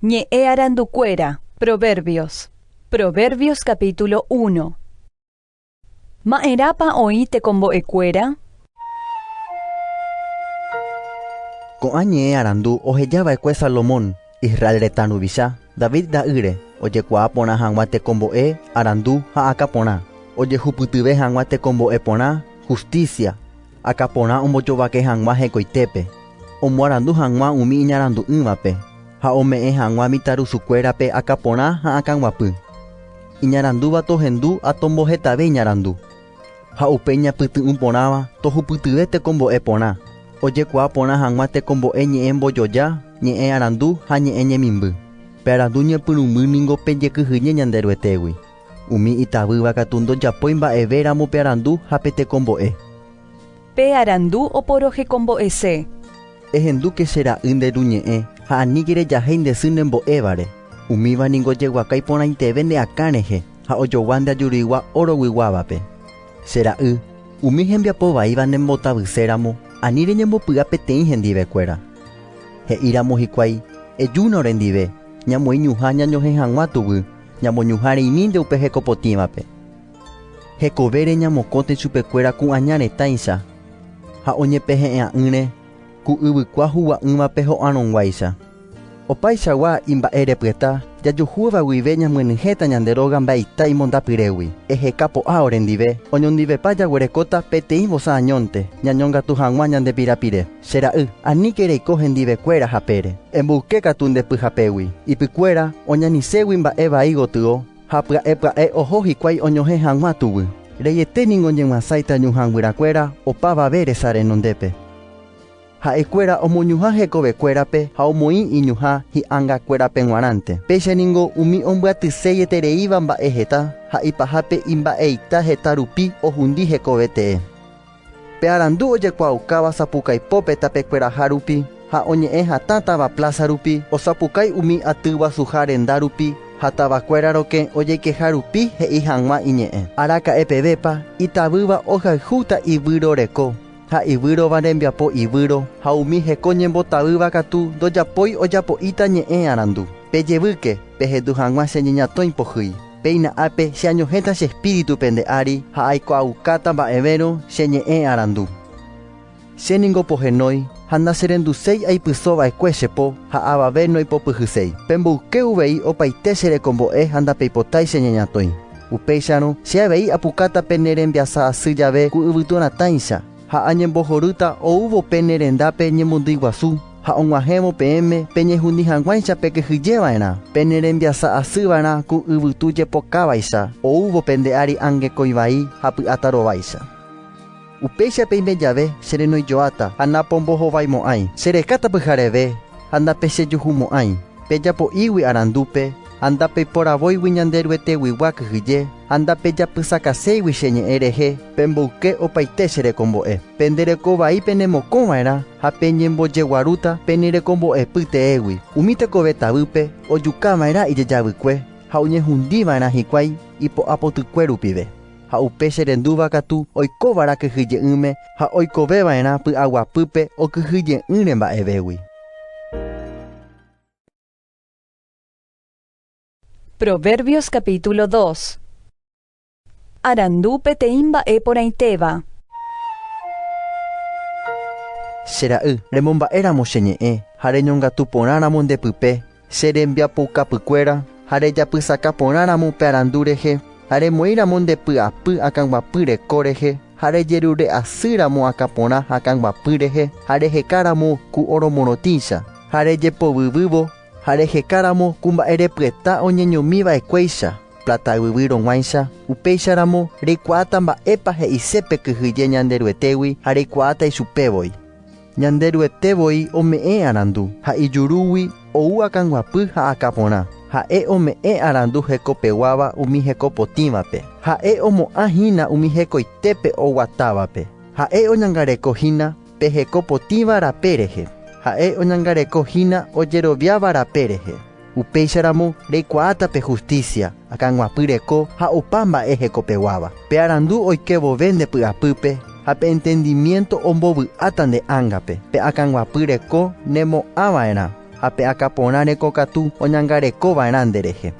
Ñe'ẽ arandukuéra. Proverbios. Proverbios capítulo uno. Ma'erãpa oĩ tekombo'ekuéra? Ko'ã ñe'ẽ arandu oheja va'ekue Salomón, Israel retã ruvicha, David ra'ýre, ojekuaa porã hag̃ua tekombo'e arandu ha akã porã, ojehupytyve hag̃ua tekombo'e porã hustísia, Aka porã ombojovake hag̃ua hekoitépe, omoarandu hag̃ua umi iñarandu'ỹvape ha ome'ẽ hag̃ua mitãrusukuérape aka porã ha akãguapy. Iñarandúva tohendu ha tombohetave iñarandu. Ha upe iñapyty'ũ porãva tohupytyve tekombo'e porã, ojekuaa porã hag̃ua tekombo'e ñe'ẽ mbojoja, ñe'ẽ arandu ha ñe'ẽ ñemimby. Pe arandu ñepyrũmby ningo pejekyhyje Ñanderuetégui. Umi itavýva katu ndojapói mba'eve ramo pe arandu ha pe tekombo'e. Pe arandu oporohekombo'ese. Ehendúke che ra'y nde ruñe'ẽ ha aníke rejahéi nde sy ne mbo'évare. Umíva ningo jeguaka iporãiteve ne akã rehe ha ojogua nde ajuruigua óro guiguávape. Che ra'y, umi hembiapo vaíva ne mbotavyse ramo, ani reñembopy'a peteĩ hendive kuéra. He'i ramo hikuái, Ejúna orendive, ñamoĩ ñuhã ñañohẽ hag̃ua tuguy, Ñamoñuhã reinínte upe heko potĩvape. Hekovére ñamokõte chupekuéra ku'aña retãicha ha oñepehe'ẽ'a'ỹre ku yvykua hugua'ỹvape ho'arõguáicha. Opaichagua imba'erepyeta jajuhúva guive ñamyenyhẽta ñande róga mba'eita imondapyrégui. Eheka po'a orendive, oñondivepa jaguerekóta peteĩ vosa añónte ñañongatu hag̃ua ñande pirapire. Che ra'y, aníke reiko hendivekuéra hapére. Emboyke katu nde pyhapégui. Ipykuéra oñaniségui mba'e vai gotyo, ha pya'e pya'e oho hikuái oñohẽ hag̃ua tuguy. Reiete ningo ñeg̃uasáita ñuhã guyrakuéra opavave resa renondépe. Ha'ekuéra omoñuhã hekovekuérape ha omoĩ iñuhã hi'angakuérape g̃uarãnte. Péicha ningo umi ombyatyséi etereíva mba'e heta, ha ipahápe imba'eita heta rupi ohundi hekove tee. Pe arandu ojekuaaukáva sapukaipópe tapekueraha rupi ha oñe'ẽ hatã táva pláza rupi osapukái umi aty guasuha renda rupi ha tavakuéra rokẽ ojeikeha rupi he'i hag̃ua iñe'ẽ. Araka'e pevépa, itavýva ohayhúta ivýro reko ha ivýrova rembiapo ivýro ha umi heko ñembotavýva katu ndojapói ojapo'íta ñe'ẽ arandu. Pejevýke, pehendu hag̃ua che ñeñatõi pohýi. Péina ápe, che añohẽta che espíritu pende ári ha aikuaaukáta mba'evérõ che ñe'ẽ arandu. Che ningo pohenói ha nacherenduséi aipyso va'ekue che po ha avave noipopyhyséi. Pemboyke uvei opaite che rekombo'e ha ndapeipotái che ñañatõi. Upéicharõ, che avei apukáta pene rembiasa asy jave ku yvytu ratãicha. Ha añembohorýta oúvo pene rendápe ñemondýi guasu, ha og̃uahẽvo peẽme peñehuni hag̃uáicha pekyhyjeva'erã, pene rembiasa asýva'erã ku yvytu jepokavaicha oúvo pende ári angekói vai ha py'áta rováicha. Upéicha peime jave, che renoijoáta ha napombohovaimo'ãi, che rekáta pyhareve ha ndapechejuhumo'ãi, pejapo'ígui arandúpe, ha ndapeiporavóigui ñande Rueteguigua kyhyje, ha ndapejapysakaséigui che ñe'ẽ rehe, pemboyke opaite che rekombo'e. Pende reko vai penemokõ va'erã ha peñembojeguarúta pene rekombo'epy teégui. Umi tekove tavýpe ojuka va'erã ijejavykue ha oñehundi va'erã hikuái ipo'apotykue rupive, ha upe che rendúva katu oikova'erã kyhyje'ỹme ha oikove va'erã py'aguapýpe okyhyje'ỹre mba'evégui. Proverbios capítulo 2 Arandu peteĩ mba'e porãitéva. Che ra'y, remomba'e ramo che ñe'ẽ, ha reñongatu porã ramo nde pype, che rembiapoukapy kuéra, ha rejapysaka porã ramo upe arandu rehe, ha remoĩ ramo nde py'apy akãguapy reko rehe, ha rejerure asy ramo akã porã ha akãguapy rehe, ha reheka ramo ku oro morotĩicha, ha rejepovyvývo, Ha reheka ramo ku mba'e repyeta oñeñomi va'ekuéicha, pláta yvyy rõguáicha, upéicha ramo reikuaáta mba'épa he'ise pe kyhyje Ñanderuetégui ha reikuaáta ichupe voi. Ñanderuete voi ome'ẽ arandu, ha ijurúgui ou akãguapy ha akã porã. Ha'e ome'ẽ arandu hekopeguáva umi hekopotĩvape, ha'e omo'ã hína umi hekoitépe oguatávape, ha'e oñangareko hína Pe heko potĩva rape rehe, ha'e oñangareko hína ojeroviáva rape rehe. Upéicharamo reikuaáta pe hustísia, akãguapy reko ha opa mba'e hekopeguáva. Pe arandu oike vove nde py'apýpe ha pe entendimiénto ombovy'áta nde ángape. Pe akãguapy reko nemo'ã va'erã ha pe akã porã reko katu oñangareko va'erã nde rehe.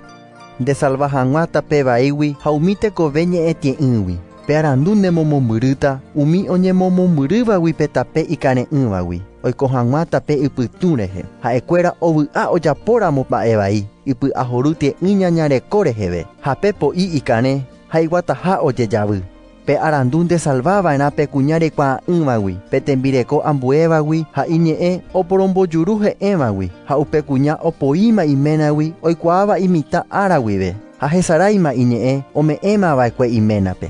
Ndesalva hag̃ua tape vaígui ha umi tekove ñe'ẽtie'ỹgui. Pe arandu nemomombyrýta umi oñemomombyrývagui pe tape ikare'ỹvagui, oiko hag̃ua tape ypytũ rehe. Ha'ekuéra ovy'a ojapóramo mba'e vai, ipy'ahoru tie'ỹ ñañareko reheve, ha pe po'i ikarẽ ha iguataha ojejavy. Pe arandu ndesalva va'erã pe kuña rekuaa'ỹvagui, pe tembireko ambuévagui ha iñe'ẽ oporombojuru he'ẽvagui, ha upe kuña opoíma iménagui oikuaáva imitã ára guive, ha hesaráima iñe'ẽ ome'ẽma va'ekue iménape.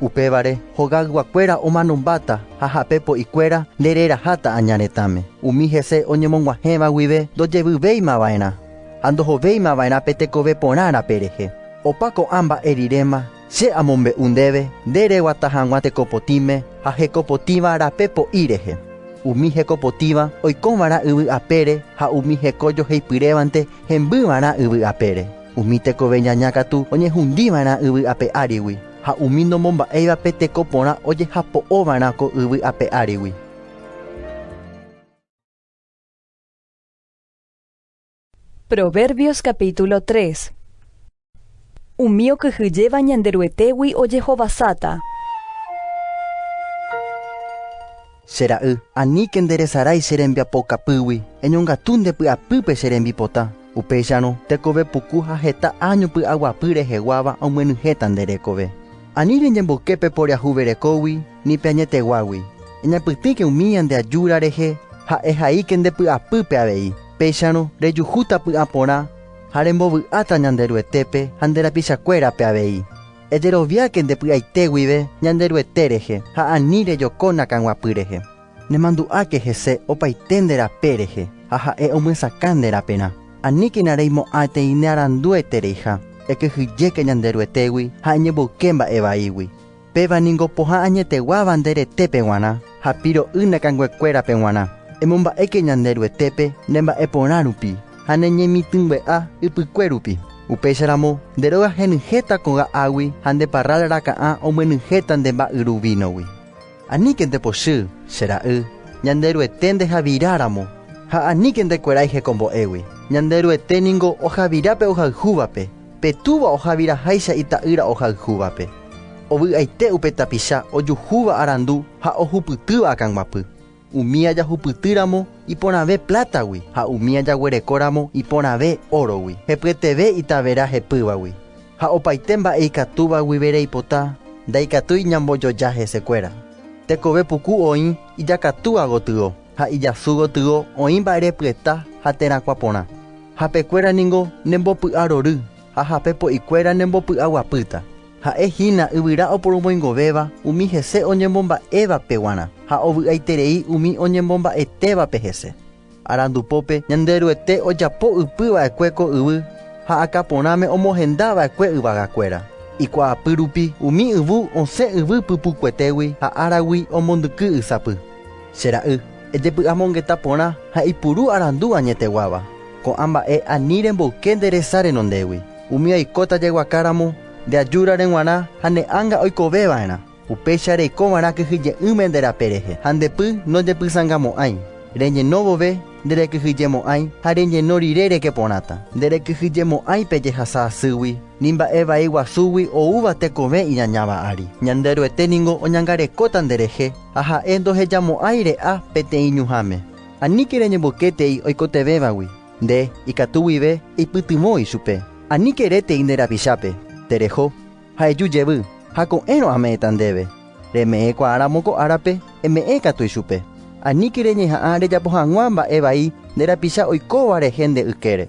Upévare hogayguakuéra omanombáta ha ha'e po'ikuéra nde reraháta aña retãme, umi hese oñemog̃uahẽva guive ndojevyvéima va'erã, ha ndohovéima va'erã pe tekove porã rape rehe. Opa ko'ã mba'e riréma, Che amombe'u ndéve nde reguata hag̃ua tekopotĩme ha hekopotĩva rape po'i rehe. Umi hekopotĩva oiko va'erã yvy apére ha umi heko joheipyrévante hemby va'erã yvy apére. Umi tekove ñaña katu oñehundi va'erã yvy ape árigui, ha umi nomomba'éivape teko porã ojehapo'o va'erã ko yvy ape árigui. Proverbios capítulo 3 Umi okyhyjéva Ñanderuetégui ojehovasáta. Che ra'y, aníke nde resarái che rembiapo kapýgui, eñongatu nde py'apýpe che rembipota. Upéicharõ, tekove puku ha heta áño py'aguapy reheguáva omyenyhẽta nde rekove. Ani reñemboyke pe poriahuverekógui, Ni pe añeteguágui. Eñapytĩke umi ñande ajúra rehe ha ehaíke nde py'apýpe avei. Péicharõ rejuhúta py'ã porã ha rembovy'áta Ñanderuetépe ha nde rapichakuérape avei. Ejeroviáke nde py'aite guive Ñanderuete rehe ha ani rejokóna ka'aguapy rehe. Nemandu'áke hese opaite nde rape rehe ha Ha'e omyesakã nde raperã. Aníkena reimo'ãeteĩ ne arandúetereiha. Ekyhyjéke Ñanderuetégui ha eñemboyke mba'e vaígui. Péva ningo pohã añeteguáva nde retépe g̃uarã ha piro'y ne kanguekuérape g̃uarã. Emomba'éke ñande Ruetépe ne mba'e porã rupi ha ne ñemitỹngue'a ypykue rupi. Upéicha ramo, nde róga henyhẽta koga águi ha nde parrál raka'ã omyenyhẽta nde mba'yru vínogui. Aníke nde pochy, che ra'y, ñande Ruete nde javira ramo, ha aníke nde kueráihe ko mbo'égui, ñande Ruete ningo ohavira pe ohayhúvape. Pe túva ohaviraháicha ita'ýra ohayhúvape, ovy'aite upe tapicha ojuhúva arandu ha ohupytýva akãguapy. Umi ajahupytýramo iporãve plátagui ha umi ajaguerekóramo iporãve órogui, hepyeteve itavera hepývagui ha opaite mba'e ikatúva guive reipota, ndaikatúi ñambojoja hesekuéra. Tekove puku oĩ ijakatúva gotyo. ha ijasu gotyo oĩ mba'ere pyeta ha terakuã porã. Hape kuéra ningo ne mbopy'a rory, ha hape po'i kuéra ne mbopy'a guapýta. Ha'e hína yvyra oporomoingovéva umi hese oñemomba'évape guarã, ha ovy'aiterei umi oñemomba'etévape hese. Arandu pópe Ñande Ruete ojapo ypy va'ekue ko yvy, ha akã porãme omohenda va'ekue yvaga kuéra. Ikuaapy rupi umi yvu osẽ yvy pypukuetégui ha áragui omondyky ysapy. Che ra'y, ejepy'amongeta porã ha ipuru arandu añeteguáva. Ko'ã mba'e ani remboyke nde resa renondégui. Umi aikóta jaguaka ramo, nde ajúra reg̃uarã ha ne ánga oikove va'erã. Upéicha reiko va'erã kyhyje'ỹme nde rape rehe ha nde py nojepysangamo'ãi. Reñeno vove, nde rekyhyjemo'ãi ha reñeno rire reke porãta. Nde rekyhyjemo'ãi pe jehasa asýgui, ni mba'e vai guasúgui oúva tekove iñañáva ári. Ñanderuete ningo oñangarekóta nde rehe. Ha ha'e ndohejamo'ãi re'a peteĩ ñuhãme. Aníke reñembokétei oikotevẽvagui, nde, ikatu guive eipytyvõ ichupe. Aníke rétei nde rapichápe, tereho, ha eju jevy, ha ko'ẽrõ ame'ẽta ndéve. Reme'ẽ kuaa ramo ko árape, eme'ẽ katu ichupe. Aníke reñeha'ã rejapo hag̃ua mba'e vai nde rapicha oikóva rehe nde ykére.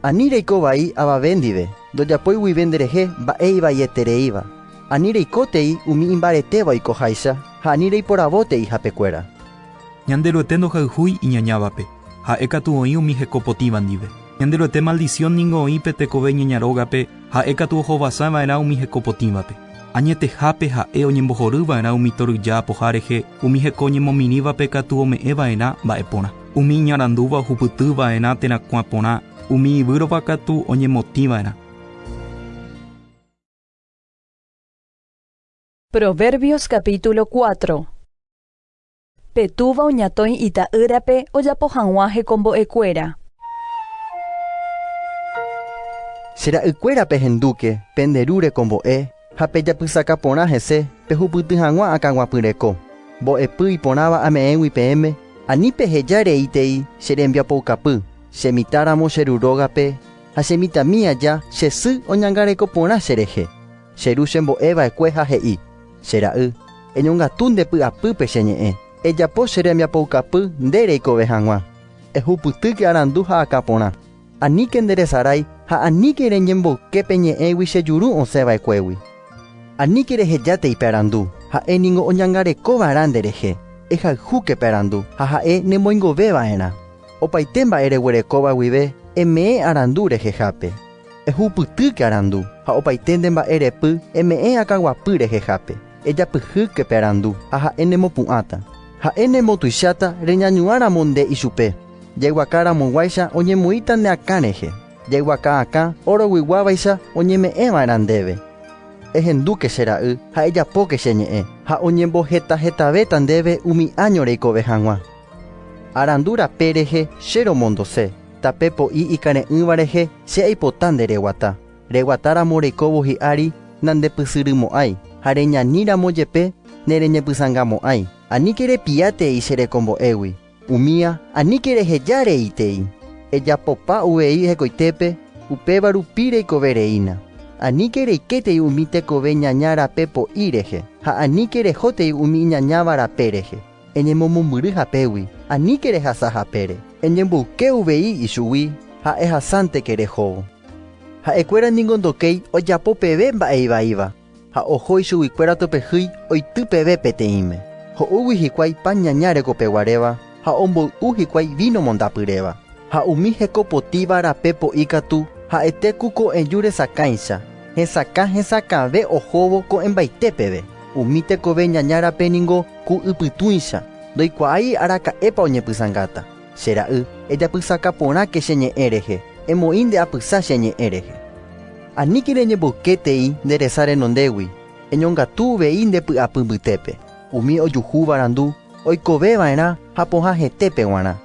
Ani reiko vai avave ndive, ndojapói guive nderehe mba'e ivaietereíva. Ani reikótei umi imbaretéva oikoháicha ha ani reiporavótei hapekuéra. Ñanderuete ndohayhúi iñañávape, ha'e katu oĩ umi heko potĩva ndive. Ñanderuete maldisión ningo oĩ pe tekove ñaña rógape, ha'e katu ohovasa va'erã umi heko potĩvape. Añetehápe ha'e oñembohory va'erã umi toryja apoha rehe, umi heko oñemomirĩvape katu ome'ẽ va'erã mba'e porã. Umi iñarandúva ohupyty va'erã térã kuã porã, umi ivýrova katu oñemotĩ va'erã. Proverbios capítulo cuatro. Pe túva oñatõi ita'ýrape ojapo hag̃ua hekombo'ekuéra. Che ra'ykuéra pehendúke pende ru rekombo'e, Ha pejapysaka porã hese, pehupyty hag̃ua akãguapyreko. Mbo'epy iporãva ame'ẽgui peẽme, ani peheja reítei che rembiapoukapy, che mitã ramo che ru rógape, ha che mitãmi aja che sy oñangareko porã che rehe. Che ru chembo'e va'ekue ha he'i, Che ra'y, eñongatu nde py'apýpe che ñe'ẽ, ejapo che rembiapoukapy nde reikove hag̃ua. Ehupytýke arandu ha akã porã. Aníke nderesarái ha aníke reñemboyke pe ñe'ẽgui che juru osẽ va'ekuégui. Aníke rehejáte pe arandu, ha'e ningo oñangareko va'erã nde rehe. Ehayhúke pe arandu ha ha'e nemoingove va'erã. Opaite mba'e reguerekóva guive eme'ẽ arandu rehehápe. Ehupytýke arandu ha opaite nde mba'e repy eme'ẽ akaguapy rehehápe. Ejapyhýke pe arandu ha ha'e nemopu'ãta. Ha'e nemotuicháta reñañuã ramo nde ichupe. Jaiguaka ramoguáicha oñemoĩta ne akã rehe, jaiguaka akã óro guiguávaicha oñeme'ẽva'erã ndéve. Ehendúke, che ra'y, ha ejapóke che ñe'ẽ, ha oñembohetahetavéta ndéve umi áño reikove hag̃ua. Arandu rape rehe che romondose, tape po'i ikare'ỹva rehe che aipota ndereguata. Reguatáramo reikóvo hi'ári nandepysyrymo'ãi, ha reñaníramo jepe nereñepysãngamo'ãi. Aníke repiátei che rekombo'égui. Umía, aníke reheja reitei, ejapopa uvei hekoitépe, upéva rupi reikove reína. Aníke reikétei umi tekove ñaña rape po'i rehe, ha aníke rehótei umi iñañáva rape rehe. Eñemomombyry hapégui, aníke rehasa hapére. Eñemboyke uvei ichugui, ha ehasánte ke rehóvo. Ha'ekuéra ningo ndokéi ojapo peve mba'e ivaíva, Ha oho ichuguikuéra topehýi oity peve peteĩme. Ho'úgui hikuái pan ñaña rekopeguaréva ha omboy'u hikuái víno mondapyréva. Ha umi hekopotíva rape po'i katu ha'ete ku ko'ẽju resakãicha, hesakã hesakãve ohóvo ko'ẽmbaite peve. Umi tekove ñaña rape ningo ku ypytũicha, ndoikuaái araka'épa oñepysãngáta. Che ra'y, ejapysaka porãke che ñe'ẽ rehe, emoĩ nde apysa che ñe'ẽ rehe. Aníke reñemboyke tei nde resa renondégui, eñongatu uvei nde py'apy mbytépe. Umi ojuhúva randu oikove va'erã ha pohã hetépe guarã,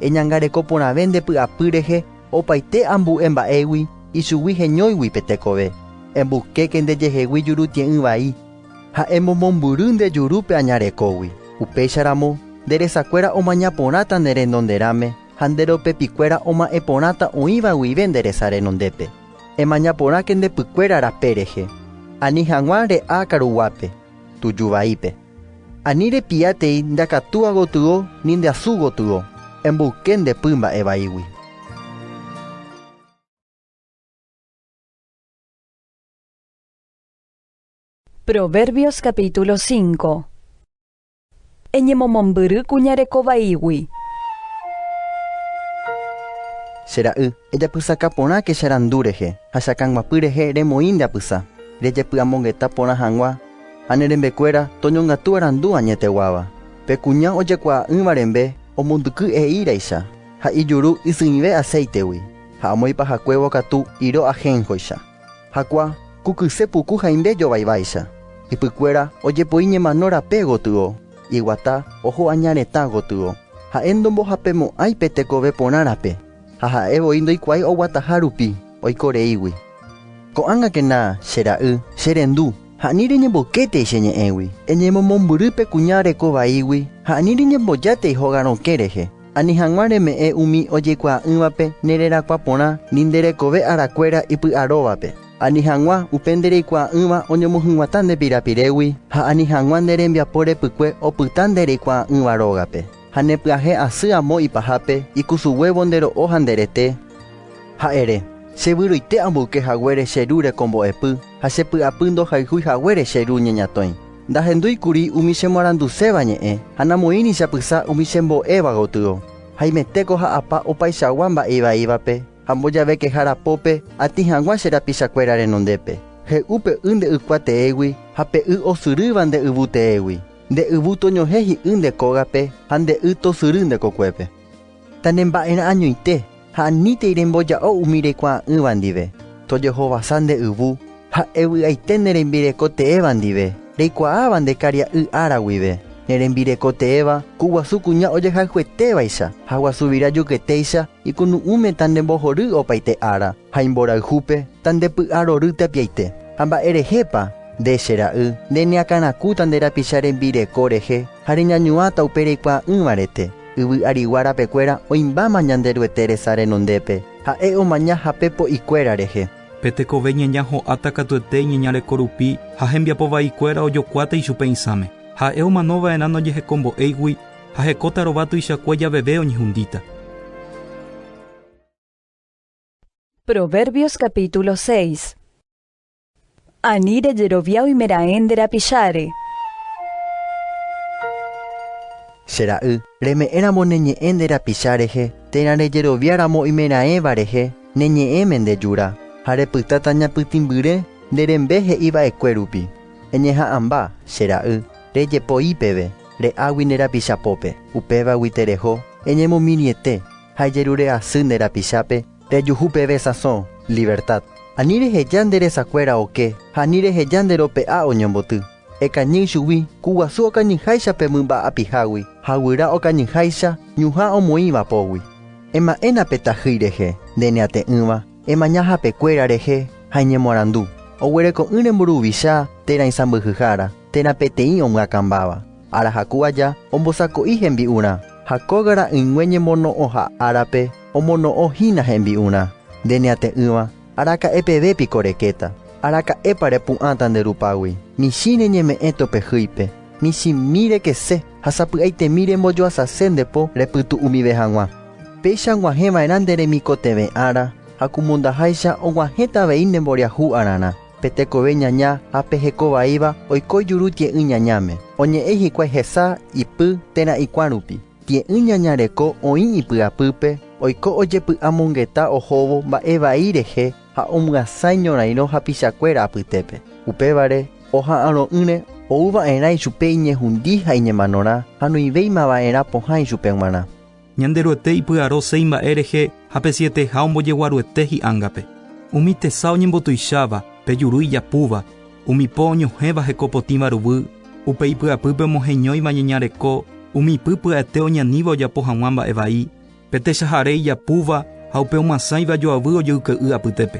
eñangareko porãve nde py'apy rehe opaite ambu'e mba'égui ichugui heñóigui pe tekove, embuskéke nde jehegui jurutie'ỹ vai, Ha emomombyry nde jurúpe añarekógui, upéicharamo nde resakuéra omaña porãta ne renonderãme ha nde ropepikuéra oma'ẽ porãta oĩva guive nde resa renondépe. Emaña porãke nde pykuéra rape rehe, ani haguã re'a karuguápe, tuju vaípe. Ani repia tei nde akatúa gotyo ni nde asu gotyo, emboyke nde py mba'e vaígui. Proverbios capítulo 5 Eñemomombyry kuñareko vaígui. Che ra'y, ejapysaka porã ke che randu rehe, ha che akãguapy rehe remoĩ nde apysa. Rejepy'amongeta porã hag̃ua, ha ne rembekuéra toñongatu arandu añeteguáva. Pe kuña ojekuaa'ỹva rembe omondyky eíreicha, ha ijuru isỹive aséitegui, ha omoipahakuévo katu iro ahénjoicha. Hakua, ku kyse puku haimbe jovaiváicha, ypykuéra ojepoi ñemano rape gotyo, iguata oho aña retã gotyo, ha'e ndombohapemo'ãi pe tekove porã rape, ha ha'e voi ndoikuaái oguataha rupi oiko reígui. Ko'ág̃akena, che ra'y, che rendu, ha ani reñemboketei che ñe'ẽgui, eñemomombyry pe kuña reko vaígui ha ani reñembojátai hogarõke rehe. Ani hag̃ua reme'ẽ umi ojekuaa'ỹvape ne rerakuã porã ni nde rekove arakuéra ipy'aróvape. Ani hag̃ua upe nde reikuaa'ỹva oñomohyg̃uatã nde pirapirégui, ha ani hag̃ua nde rembiapo repykue opyta nde reikuaa'ỹva rógape. Ha ne pyahe asy amo ipahápe ikusuguévo nde ro'o ha nde rete, ha ere, Che vyroite amboyke haguére che ru rekombo'epy, ha che py'apy ndohayhúi haguére che ru ñeñatõi. Ndahendúi kuri umi chemoaranduséva ñe'ẽ, ha namoĩri chapysa umi chembo'éva gotyo. Haimetéko ja'apa opaichagua mba'e ivaívape, ha mbojavekehára pópe atĩ hag̃ua che rapichakuéra renondépe. He'u pe y nde ykua teégui ha pe y osyrýva nde yvu teégui, nde yvu toñohẽ hi'ỹ nde kógape ha nde y tosyry nde kokuépe. Tanemba'erã añoite ha anítei remboja'o umi rekuaa'ỹva ndive. Tojehovasa nde yvu ha evy'aite ne rembireko teéva ndive, reikuaáva nde karia'y ára guive. Ne rembireko teéva ku guasu kuña ojehayhuetévaicha ha guasuvira juketéicha ikunu'ũme tandembohory opaite ára, ha imborayhúpe tandepy'arory tapiaite. Ha mba'e rehépa, nde, che ra'y, nde neakãrakúta nde rapicha rembireko rehe ha reñañuãta upe reikuaa'ỹva rete. Yvy arigua rapekuéra oĩmbáma Ñanderuete resa renondépe, ha'e omaña hape po'ikuéra rehe. Pe tekove ñaña ho'áta katuete iñeñareko rupi ha hembiapo vaikuéra ojokuáta ichupe isãme. Ha'e omano va'erã nojehekombo'éigui ha hekóta rova tuichakue javeve oñehundíta. Proverbios capítulo 6. Ani rejerovia oimeraẽ nde rapicháre. Che ra'y, reme'ẽramo ne ñe'ẽ nde rapicha rehe, térã rejerovia ramo oimeraẽva rehe ne ñe'ẽme nde jura, ha repytáta ñapytĩmbyre nde rembe he'i va'ekue rupi. Eñeha'ãmba, che ra'y, rejepoi peve, re'águi nde rapicha pópe, upévagui tereho, eñemomirĩete, ha ejerure asy nde rapichápe, Rejuhu peve sãso, Libertad. Ani reheja nde resakuéra oke ha ani reheja nde rope'a oñomboty. Ekañy ichugui, ku guasu okañyháicha pe mymba apihágui ha guyra okañyháicha ñuhã omoĩ vapógui. Ema'ẽna pe tajýi rehe, nde ne ate'ỹva, emaña hapekuéra rehe ha eñemoarandu, Oguereko'ỹre mburuvicha térã isãmbyhyhára, térã peteĩ omyakãmbáva. Arahaku aja ombosako'i hembi'urã, ha kóga ra'ỹingue ñemono'õha árape omono'õ hína hembi'urã. Nde neate'ỹva, araka'e peve piko rekéta? Araka'épa repu'ãta nde rupágui? Michĩre ñeme'ẽ topehýipe, michĩmi rekese ha sapy'aitemi rembojoasase nde po repytu umive hag̃ua. Péicha ag̃uahẽ va'erã nde remikotevẽ ára, ha ku mondaháicha og̃uahẽta avei nde mboriahu ararã. Pe tekove ñaña ha pe heko vaíva oiko juru tie'ỹ ñañáme, oñe'ẽ hikuái hesa ipy térã ikuã rupi. Tie'ỹ ñaña reko oĩ ipy'apýpe, oiko ojepy'amongeta ohóvo mba'e vai rehe ha omyasãi ñorairõ hapichakuéra apytépe. Upévare, oha'arõ'ỹre, ou va'erã ichupe iñehundi ha iñemanorã ha noĩvéima va'erã pohã ichupe g̃uarã. Ñanderuete ipy'aro seis mba'e rehe ha pe sieteha ombojeguaruete hi'ángape, umi tesa oñembotuicháva, pe juru ijapúva, umi po oñohẽva heko potĩva ruguy, upe ipy'apýpe omoheñóiva ñeña reko, umi py pya'ete oñaníva ojapo hag̃ua mba'e vai, pe techahare ijapúva ha upe omyasãiva joavy ojoyke'y apytépe.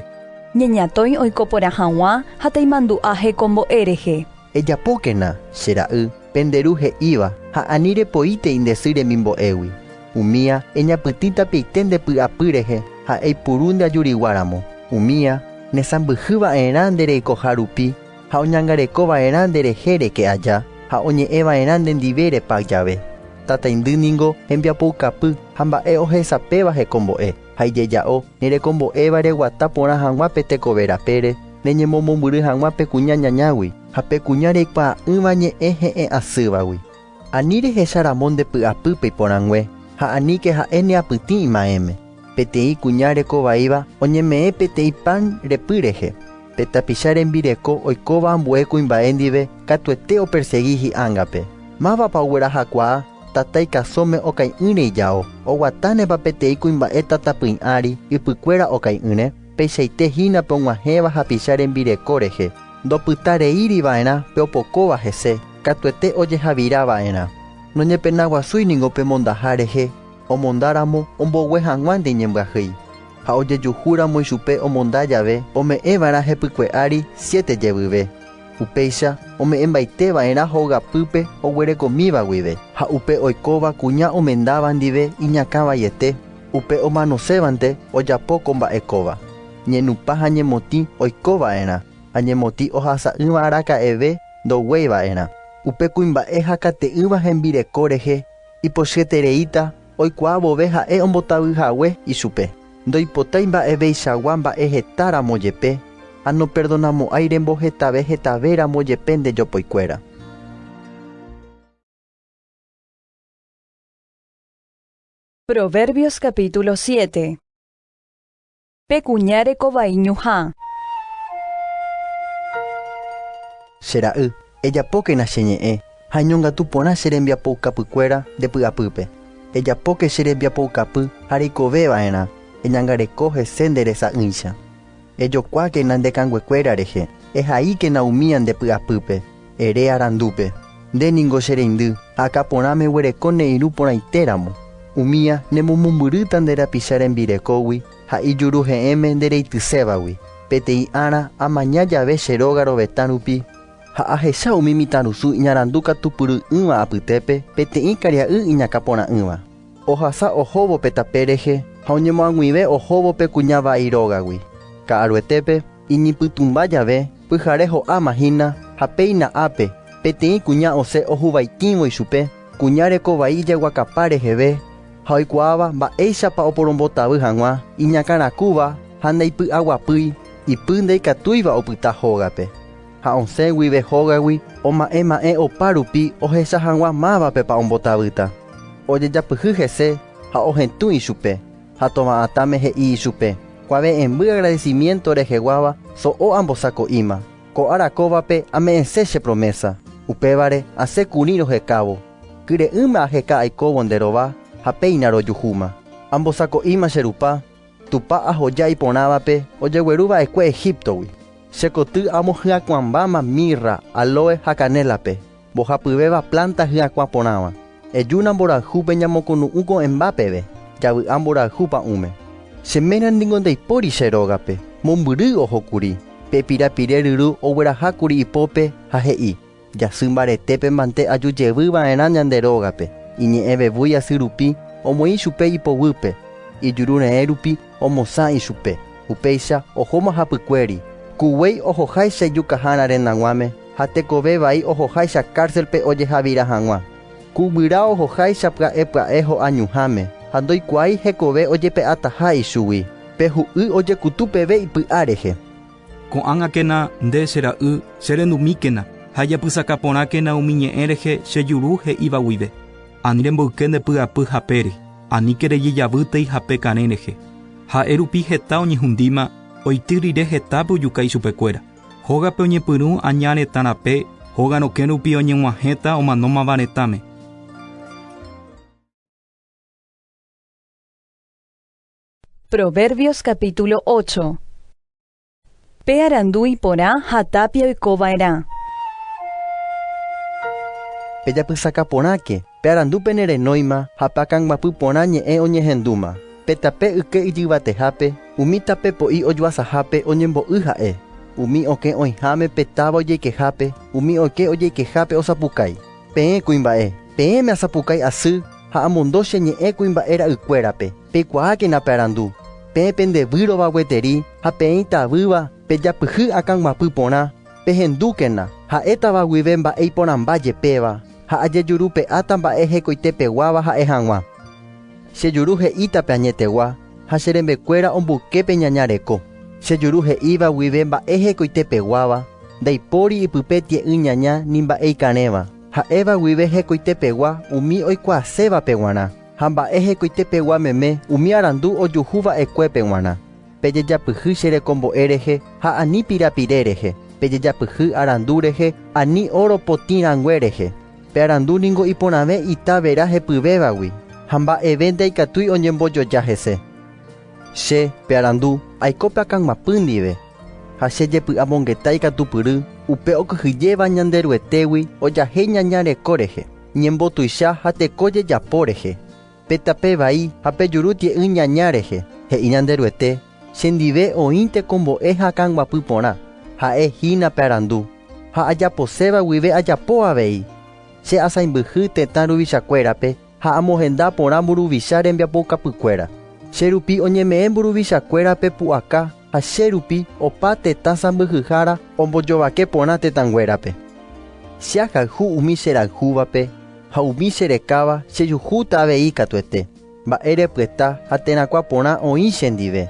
Ñeñatõi oiko porã hag̃ua ha taimandu'a hekombo'e rehe. Ejapókena, che ra'y, pende ru he'íva, ha ani repoíte indesy remimbo'égui. Umía, eñapytĩ tapiaite nde py'apy rehe, ha eipuru nde ajurigua ramo. Umía, nesãmbyhy va'erã nde reikoha rupi, ha oñangareko va'erã nde rehe reke aja, ha oñe'ẽ va'erã nde ndive repa jave. Tataindy ningo hembiapoukapy ha mba'e ohesapéva hekombo'e. ha ijeja'o, nerekombo'éva reguata porã hag̃ua pe tekove rapére, reñemomombyry hag̃ua pe kuña ñañágui ha pe kuña reikuaa'ỹva ñe'ẽ he'ẽ asývagui. Ani rehecha ramo nde py'apýpe iporãngue, ha aníke ha'e ne apytĩ imaẽme. Peteĩ kuña reko vaíva oñeme'ẽ peteĩ pan repy rehe. Pe tapicha rembireko oikóva ambue kuimba'e ndive katuete opersegi hi'ángape. Mávapa oguerahakuaa? Tatái kasóme okai'ỹre ijao, oguatánepa peteĩ kuimba'e tatapỹi ári, ypykuéra okai'ỹre? Peichaite hína pe og̃uahẽva hapicha rembireko rehe, ndopyta reíri va'erã pe opokóva hese, katuete ojehavira va'erã. Noñepenaguasúi ningo pe mondaha rehe, omondáramo ombogue hag̃uánte iñembyahýi, ha ojejuhúramo ichupe omonda jave ome'ẽ va'erã hepykue ári siete jevyve. Upéicha ome'ẽmbaite va'erã hogapýpe oguerekomíva guive, ha upe oikóva kuña omendáva ndive iñakã vaiete, upe omanosévante ojapo ko mba'e kóva. Ñenupã ha ñemotĩ oiko va'erã, ha ñemotĩ ohasa'ỹva araka'eve ndoguéi va'erã. Upe kuimba'e hakate'ỹva hembireko rehe ipochyetereíta Oikuaa vove ha'e ombotavy hague ichupe, ndoipotái mba'eveichagua mba'e heta ramo jepe, ha noperdonamo'ãi rembohetave hetave ramo jepe nde jopoikuéra. Proverbios capítulo siete. Pe kuña reko vai ñuhã. Che ra'y, ejapókena che ñe'ẽ ha eñongatu porã che rembiapoukapykuéra nde py'apýpe. Ejapóke che rembiapoukapy ha reikove va'erã eñangareko hese nde resa'ỹicha. Ejokuákena nde kanguekuéra rehe, ehaíkena umía nde py'apýpe. Ere arandúpe, Nde ningo che reindy, akã porãme eguereko ne irũ porãite ramo. Umía, ne momombyrýta nde rapicha rembirekógui ha ijuru he'ẽme nde reitysévagui. Peteĩ ára, amaña jave che róga rovetã rupi, ha ahecha umi mitãrusu iñarandu katu pyry'ỹva apytépe, peteĩ karia'y iñakã porã'ỹva. Ohasa ohóvo pe tape rehe ha oñemoag̃uive ohóvo pe kuña vai rógagui. Ka'aruetépe, iñipytũmba jave, pyhare ho'áma hína, ha péina ápe, peteĩ kuña osẽ ohuvaitĩvo ichupe, kuña reko vai ijaguakapa reheve ha oikuaáva mba'éichapa oporombotavy hag̃ua iñakãrakúva ha ndaipy'aguapýi, ipy ndaikatúiva opyta hógape. ha osẽ guive hógagui oma'ẽ ma'ẽ opa rupi ohecha hag̃ua mávapepa ombotavýta. Ojejapyhy hese ha ohetũ ichupe, ha tova'atãme he'i ichupe, Kuave'ẽmby agradecimiento reheguáva so'o ambosako'íma. Ko ára kóvape ame'ẽse che promesa, upévare asẽ kuri rohekávo. Kyre'ỹme aheka aikóvo nde rova ha péina rojuhúma. Ambosako'íma che Rupa. Tupã ahoja iporãvape ojegueru va'ekue Egíptogui. Che koty amo hyakuãmbáma mirra, alóe ha kanélape, mbohapyvéva plánta hyakuã porãva. Ejúna mborayhúpe ñamokonu'ũ ko'ẽmba peve, javy'a mborayhu pa'ũme. Che ména ningo ndaipóri che rógape. Mombyry ohókuri, pe pirapire ryru oguerahákuri ipópe ha he'i, Jasy mbaretépe mante aju jevy va'erã ñande rógape, iñe'ẽ vevúi asy rupi, omoĩ chupe ipoguýpe, ijuru reẽ rupi omosã ichupe. Upéicha ohóma hapykuéri, ku guéi ohoháicha ijukahára rendaguãme ha tekove vai ohoháicha kárselpe ojehavira hag̃ua. Ku guyra ohoháicha pya'e pya'e ho'añuháme ha ndoikuaái hekove ojepe'ataha ichugui. Pe hu'y ojekutu peve ipy'a rehe. Ko'ág̃akena nde, che ra'y, che rendumíkena, ha japysaka porãkena umi ñe'ẽ rehe che juru he'íva guive. Ani remboyke nde py'apy hapére, aníke rejy javýtei hape karẽ rehe. Ha'e rupi heta oñehundíma, oity rire hetápe ojuka ichupekuéra. Hógape oñepyrũ aña retã rape, hóga rokẽ rupi oñeg̃uahẽta omanómava retãme. Proverbios capítulo 8 Pe arandu iporã ha tápia oiko va'erã. Pejapysaka porãke, pe arandu pene renóima ha pe akãguapy porã ñe'ẽ oñehendúma. Pe tape yke ijyvatehápe, umi tape po'i ojoasahápe oñembo'y ha'e. Umi okẽ oĩháme pe táva ojeikehápe, umi oike ojeikehápe osapukái. Peẽ kuimba'e, peẽme asapukái asy ha amondo che ñe'ẽ kuimba'e ra'ykuérape. Peikuaákena pe arandu, peẽ pende výrova gueteri ha peẽi tavýva pe japyhy akã guapy porã, pehendúkena, ha'étava guive mba'e iporãmba jepéva, ha ajejurupe'áta mba'e hekoite peguáva ha'e hag̃ua. Che juru he'íta pe añetegua, ha che rembekuéra omboyke pe ñaña reko. Che juru he'íva guive mba'e hekoite peguáva, ndaipóri ipype tie'ỹ ñaña ni mba'e ikarẽva, ha'éva guive hekoite pegua umi oikuaasévape guarã. Ha mba'e hekoite pegua meme umi arandu ojuhu va'ekuépe g̃uarã, pejejapyhy che rekombo'e rehe ha ani pirapire rehe, pejejapyhy arandu rehe ani óro potĩ rangue rehe. Pe arandu ningo iporãve ita vera hepyvévagui, ha mba'eve ndaikatúi oñembojoja hese. Che, pe arandu, aiko pe akãguapy ndive, ha che jepy'amongeta ikatupyry upe okyhyjéva Ñanderuetégui ojahéi ñaña reko rehe. Ñembotuicha ha teko jejapo rehe, pe tape vai ha pe juru tie'ỹ ñaña rehe, he'i Ñanderuete, chendive oĩ tekombo'e ha kãguapy porã, ha'e hína pe arandu, ha ajaposéva guive ajapo avei. Che asãimbyhy tetã ruvichakuérape ha amohenda porã mburuvicha rembiapoukapykuéra. Che rupi oñeme'ẽ mburuvichakuérape pu'aka ha che rupi opa tetã sãmbyhyhára ombojovake porã tetãnguérape. Che ahayhu umi cherayhúvape ha umi cherekáva chejuhúta avei katuete mba'e repyta ha terakuã porã oĩ chendive,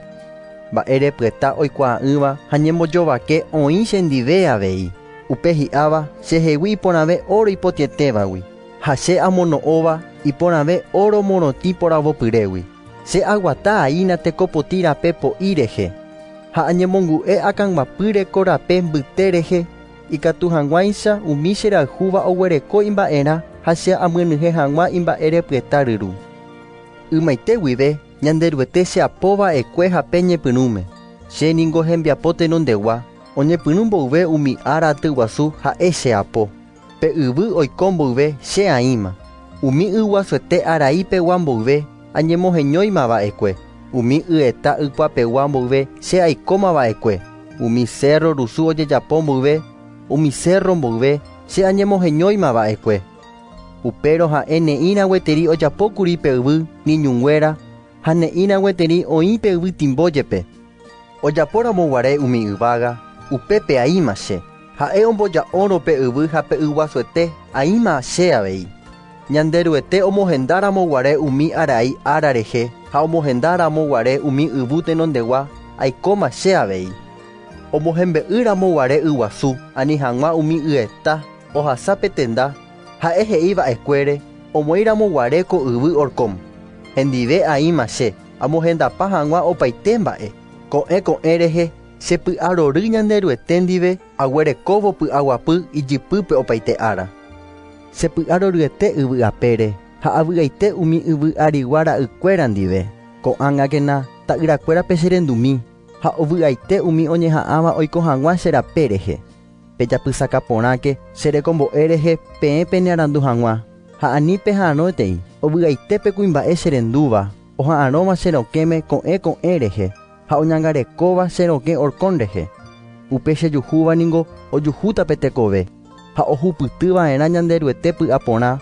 mba'e repyta oikuaa'ỹva ha ñembojovake oĩ chendive avei, upe hi'áva chehegui iporãve óro ipotĩetévagui ha che amono'õva iporãve óro morotĩ poravopyrégui. Che aguata aína tekopotĩ rape po'i rehe, ha añemongu'e akãguapýre ko rape mbyte rehe, ikatu hag̃uáicha umi cherayhúva oguereko imba'erã ha che amyenyhẽ hag̃ua imba'erepyeta ryru. Ymaite guive Ñanderuete cheapo va'ekue ha pe ñepyrũme, che ningo hembiapo tenondegua, oñepyrũ mboyve umi ára atyguasu ha'e cheapo. Pe yvy oiko mboyve che aĩma, umi y guasuete arai pegua mboyve añemoheñóima va'ekue, umi y eta ykua pegua mboyve che aikóma va'ekue, umi cérro rusu ojejapo mboyve, umi cérro mboyve che añemoheñóima va'ekue. Upérõ ha'e ne'ĩrã gueteri ojapókuri pe yvy miñunguéra ha ne'ĩrã gueteri oĩ pe yvy timbo jepe. Ojapóramo guare umi yvága, upépe aĩma che. Ha'e omboja'órõ pe yvy ha pe yguasuete, aĩma che avei. Ñanderuete omohendáramo guare umi arai ára rehe ha omohendáramo guare umi yvy tenondegua, aikóma che avei. Omohembe'ýramo guare yguasu ani hag̃ua umi yeta ohasa pe tenda, ha'e he'i va'ekuére omoĩramo guare ko yvy Orcom, Hendive aĩma che. Amohendapa hag̃ua opaite mba'e, ko'ẽ ko'ẽ rehe, che py'arory Ñanderuete ndive aguerekóvo py'aguapy ijypýpe opaite ára. Che py'aroryete yvy apére ha avy'aite umi yvy arigua ra'ykuéra ndive, ko'ág̃akena ta'yrakuérape che rendumi, ha ovy'aite umi oñeha'ãva oiko hag̃ua che rape rehe. Pejapysaka porãke che rekombo'e rehe peẽ penearandu hag̃ua, ha ani peha'arõetei, ovy'aite pe kuimba'e cherendúva, oha'arõva che rokẽme ko'ẽ ko'ẽ rehe, ha oñangarekóva che rokẽ orkon rehe. Upe chejuhúva ningo ojuhúta pe tekove, ha ohupyty va'erã Ñanderuete py'a porã,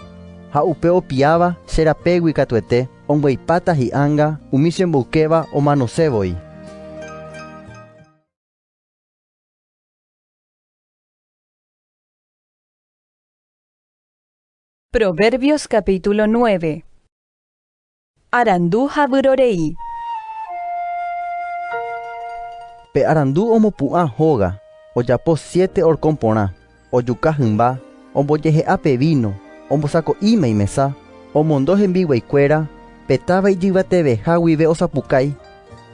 ha upe opiãva che rapégui katuete ombyepáta hi'anga umi chemboykéva omanose voi. Proverbios capítulo 9 Arandu ha vyrorei Pe arandu omopu'ã hóga, ojapo siete orkõ porã, ojuka hymba, ombojehe'a pe víno, ombosako'íma imesa, omondo hembiguaikuéra, pe táva ijyvateveha guive osapukái,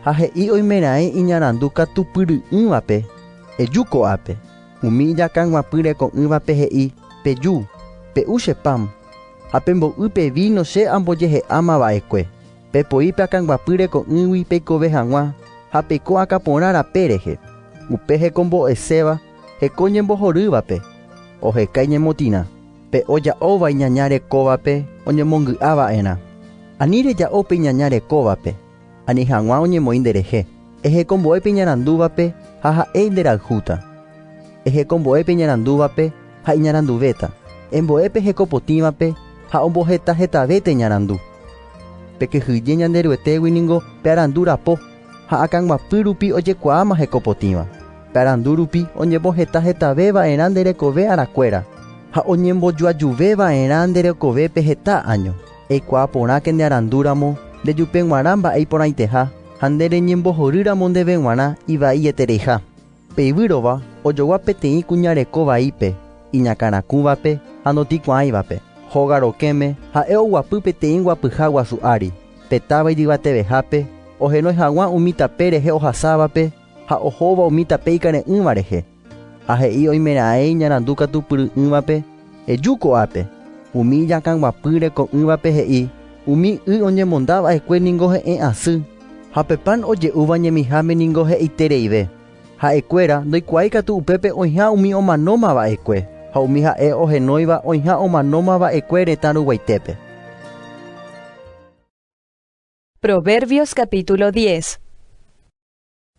Ha he'i oimeraẽ iñarandu katupyry'ỹvape, Eju ko'ápe. Umi ijakãguapy reko'ỹvape he'i, Peju, pe'u che pan, ha pembo'y pe víno che ambojehe'áma va'ekue. Pepoi pe akãguapy reko'ỹgui peikove hag̃ua ha peiko akã porã rape rehe. Upe hekombo'eséva heko ñembohorývape, oheka iñemotĩrã. Pe oja'óva iñaña rekóvape oñemongy'a va'erã. Ani reja'o pe iñaña rekóvape. Ani hag̃ua oñemoĩ nderehe. Ehekombo'e pe iñarandúvape ha ha'e nderayhúta. Ehekombo'e pe iñarandúvape ha iñaranduvéta. Embo'e pe hekopotĩvape ha omboheta hetave te ñarandu. Pekyhyje Ñanderuetégui ningo pe arandu rapo ha akãguapy rupi ojekuaáma hekopotĩva. Pe arandu rupi oñemboheta hetave va'erã nde rekove arakuéra ha oñembojoajuve va'erã nde rekove pe heta áño. Eikuaa porãke ne arandu ramo, nde jupe g̃uarã mba'e iporãiteha, ha nde reñembohory ramo ndeve g̃uarã ivai etereiha. Pe ivýrova ojogua peteĩ kuña reko vaípe, iñakãrakũvape ha notikuaãivape. Hóga rokẽme ha'e oguapy peteĩ guapyha guasu ári, pe táva ijyvatevehápe, ohenói haguã umi tape rehe ohasávape ha ohóva umi tape ikare'ỹva rehe. Ha he'i oimeraẽ iñarandu katu pyry'ỹvape, Eju ko'ápe. Umi ijakãguapy reko'ỹvape he'i, Umi y oñemonda va'ekue ningo he'ẽ asy, ha pe pan oje'úva ñemiháme ningo he'itereive. Ha'ekuéra ndoikuaái katu upépe oĩha umi omanóma va'ekue, ha umi ha'e ohenóiva oĩha omanóma va'ekue retã ruguaitépe. Proverbios capítulo diez.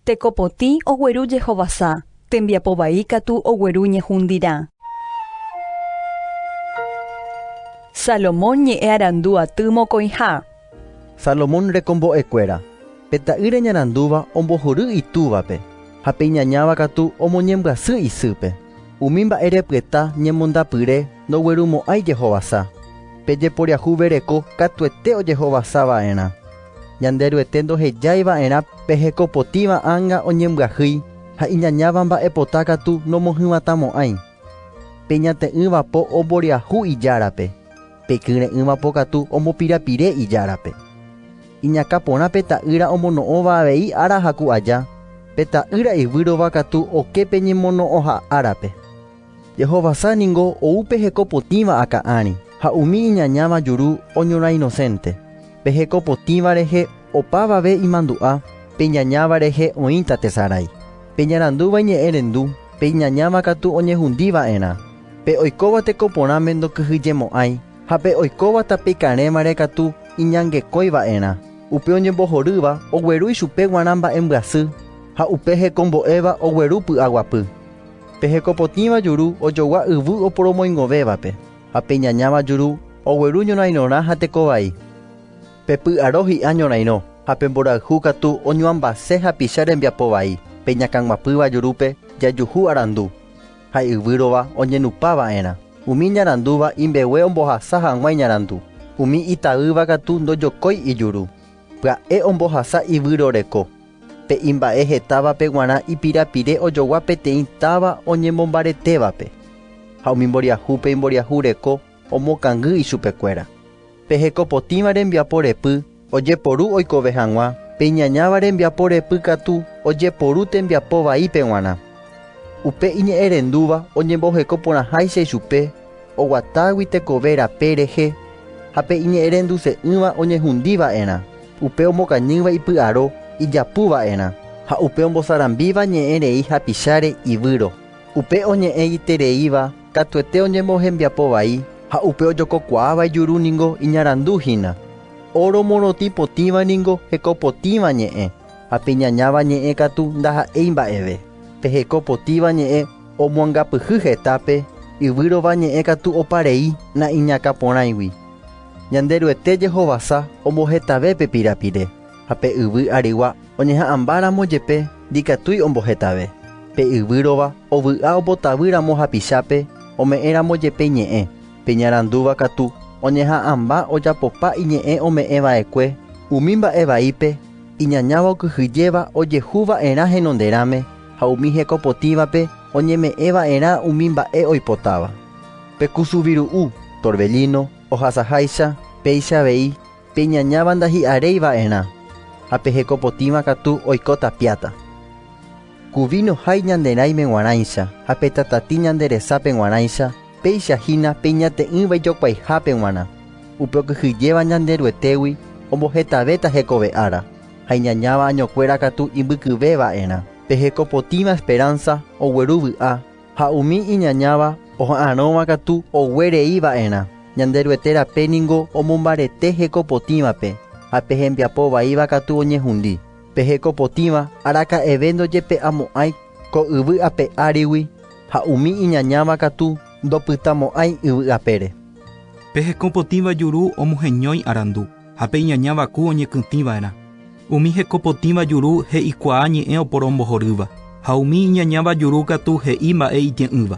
Teko potĩ ogueru jehovasa, tembiapo vai katu ogueru ñehundirã. Salomón ñe'ẽ arandu aty mokõiha. Salomón rekombo'ekuéra. Pe ta'ýra ñarandúva ombohory itúvape, ha pe iñañáva katu omoñembyasy isýpe. Umi mba'e repyeta ñemondapyre ndoguerumo'ãi jehovasa. Pe jeporiahuvereko katuete ojehovasava'erã. Ñanderuete ndohejái va'erã pe hekopotĩva ánga oñembyahýi ha iñañáva mba'epota katu nomohywatamo'ãi. Pe ñate'ỹva po omboriahu ijárape, pe kyre'ỹva po katu ombopirapire ijárape. Iñakã porã pe ta'ýra omono'õva avei ára ha ku aja, pe ta'ýra ivýrova katu oke pe ñemono'õha árape. Jehovasa ningo ou pe heko potĩva akã ári, ha umi iñañáva juru oñorã inosénte. Pe heko potĩva rehe opavave imandu'a, pe iñañáva rehe oĩta tesarái. Pe iñarandúva iñe'ẽ rendu, pe iñañáva katu oñehundi va'erã. Pe oikóva teko porãme ndokyhyjemo'ãi, ha pe oikóva tape karẽvare katu iñangekói va'erã. Upe oñembohorýva ogueru ichupe guarã mba'embyasy, ha upe hekombo'éva ogueru py'aguapy. Pe hekopotĩva juru ojogua yvy oporomoingovévape, ha pe ñañáva juru ogueru ñorairõrã ha tekovai. Pe py'aro hi'a ñorairõ, ha pe mborayhu katu oñuambase hapicha rembiapo vai, pe ñakãguapýva jurúpe jajuhu arandu, ha yvy rova oñenupa va'erã. Umi ñarandúva imbegue ombohasa hag̃ua iñarandu, umi itaýva katu ndojokói ijuru, pya'e ombohasa ivyroreko. Pe imba'e hetávape g̃uarã ipirapire ojogua peteĩ táva oñemombaretévape, ha umi mboriahúpe imboriahu reko omokangy ichupekuéra. Pe heko potĩva rembiapo repy ojeporu oikove hag̃ua, pe iñañáva rembiapo repy katu ojeporu tembiapo vaípe g̃uarã. Upe iñe'ẽrendúva oñemboheko porãháicha ichupe oguatágui tekove rape rehe ha pe iñe'ẽrenduse'ỹva oñehundi va'erã. Upe omokañýva ipy'aro ijapu va'erã, ha upe ombosarambíva ñe'ẽ rei hapicháre ivýro. Upe oñe'ẽguitereíva katuete oñembohembiapo vai, ha upe ojokokuaáva ijuru ningo iñarandu hína. Óro morotĩ potĩva ningo heko potĩva ñe'ẽ, ha pe iñañáva ñe'ẽ katu ndaha'éi mba'eve. Pe heko potĩva ñe'ẽ omoangapyhy hetápe, yvýrova ñe'ẽ katu opa rei na'iñakãporãigui. Ñanderuete jehovasa ombohetave pe pirapire, ha pe yvy arygua oñeha'ãmbáramo jepe ndikatúi ombohetave. Pe yvy rova ovy'a opotavy ramo hapichápe ome'ẽ ramo jepe ñe'ẽ, pe ñarandúva katu oñeha'ãmba ojapopa iñe'ẽ ome'ẽ va'ekue umi mba'e vaípe iñañáva okyhyjéva ojehu va'erã henonderãme ha umi hekopotĩvape oñeme'ẽ va'erã umi mba'e oipotáva. Pe kusu viru'u, torbellino, ohasaháicha, péicha avei, pe ñañáva ndahi'aréi va'erã, ha pe heko potĩva katu oiko tapiáta. Ku víno hái ñande raĩme g̃uarãicha ha pe tatati ñande resápe g̃uarãicha, péicha hína pe iñate'ỹva ijokuaihápe g̃uarã, upe okyhyjéva ñande Ruetégui ombohetavéta hekove ára, ha iñañáva añokuéra katu imbykyve va'erã. Pe heko potĩva esperánsa ogueru vy'a Ha umi iñañáva oha'arõva katu oguerei va'erã. Ñanderuete rape ningo omombarete heko potĩvape, ha pe hembiapo vaíva katu oñehundi. Pe heko potĩva araka'eve ndojepe'amo'ãi ko yvy ape árigui, ha umi iñañáva katu ndopytamo'ãi yvy apére. Pe heko potĩva juru omoheñói arandu. ha pe iñañáva ku oñekytĩ va'erã, umi heko potĩva juru he'ikuaa ñe'ẽ oporombohorýva, ha umi iñañáva juru katu he'i mba'e itye'ỹva.